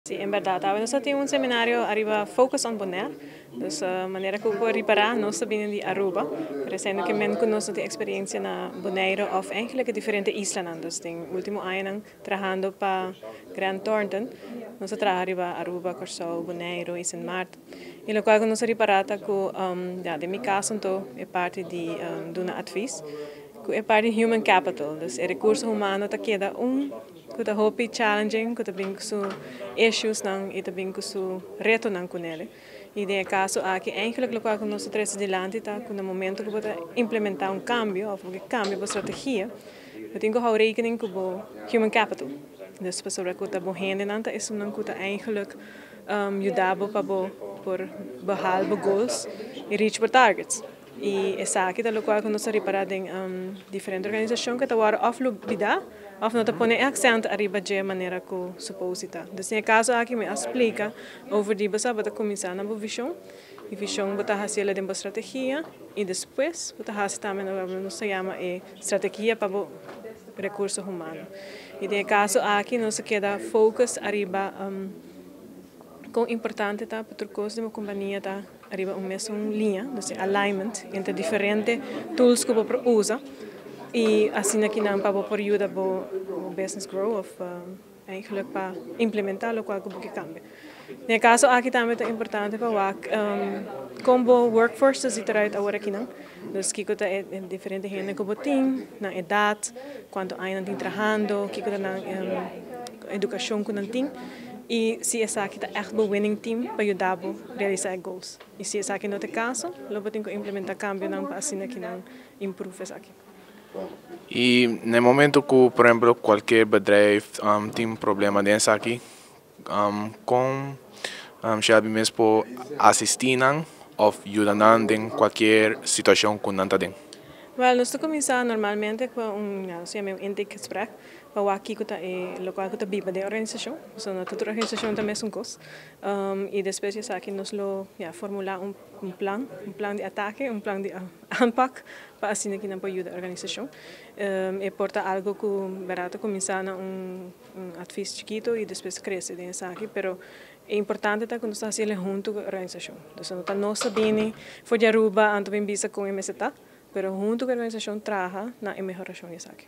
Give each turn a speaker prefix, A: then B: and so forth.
A: Sí, en berdad. Awe nos ta tin un seminario ariba Focus on Bonaire. Dus manera cu por ripara, nos ta bini di Aruba. Pero esei no ke men cu nos no tin experiencia na Bonaire of eigenlijk e diferente islanan. Dus den e ultimo añanan trahando pa Grant Thornton, nos a traha riba Aruba, Corsou, Bonaire y Sint Maarten. Y locual cu nos a ripara ta cu, ya, den mi cas anto, e parti di duna advis, cu e parti human capital, dus e recurso humano ta keda un. cu ta hopi challenging, cu ta bini cu su issuesnan y ta bini cu su retonan cu nel. Y den e caso aki, eigenlijk locual cu nos ta trece dilanti ta cu na momento cu bo ta implementa un cambio of bo ke cambia bo strategia, bo tin cu hou rekening cu bo human capital. Dus pasobra cu ta bo hendenan ta esunnan cu ta eigenlijk yuda bo pa bo por behal bo goals y reach bo targets. I esaki ta locual cu nos ta ripara den diferente organisacion cu ta wordo of lubida of no ta pone e accent ariba dje manera cu suposi ta. Dus den e caso aki mi a splica over di boso abata cuminsa na bo vision y vision bo ta haciela den bo strategia y despues bo ta haci tambe lo cu nos ta yama e strategia pa bo recurso humano. Y den e caso aki nos a keda focus ariba con importante ta pa tur cos den bo compania ta. Riba un mesun liña, nos tin alignment entre diferente tools ku bo por usa i asina ki nan pa bo por yuda bo business grow òf eigenlijk pa implementá lokual ku bo ke kambia. Den e kaso aki tambe ta importante pa wak kon bo workforce ta sita right aworakinan. Dus kiko ta e diferente hende ku bo tin, nan edat, kuantu aña nan tin trahando, kiko ta nan edukashon ku nan tin i si esaki ta ègt bo winning team pa yuda bo realisá e goals. I si esaki no ta e kaso, lo bo tin ku implementá kambionan pa asina ke nan improve esaki. I
B: na e momentu ku, por ehempel, kualkier bedrijf tin problema den esaki, Kon Shelby mes por asistí nan òf yuda nan den kualkier situashon ku nan ta den? Wèl, nos ta kuminsá
A: normalmente ku un loke yama un intake gesprek pa wak kiko ta e lokual ku ta biba den e organisashon, pasobra no ta tur organisashon ta mesun kos, i despues di esaki nos lo ya formulá un plan, un plan di atake, un plan di aanpak pa asina nan por yuda e organisashon, e por ta algu ku ta kuminsá na un Un advis chikito y despues crece den esaki, pero e importante ta cu nos ta haci ele hunto cu e organisacion. Entonces no ta nos ta bini for di Aruba anto bin bisa con e mester ta, pero hunto cu e organisacion traha na e mehoracion di esaki.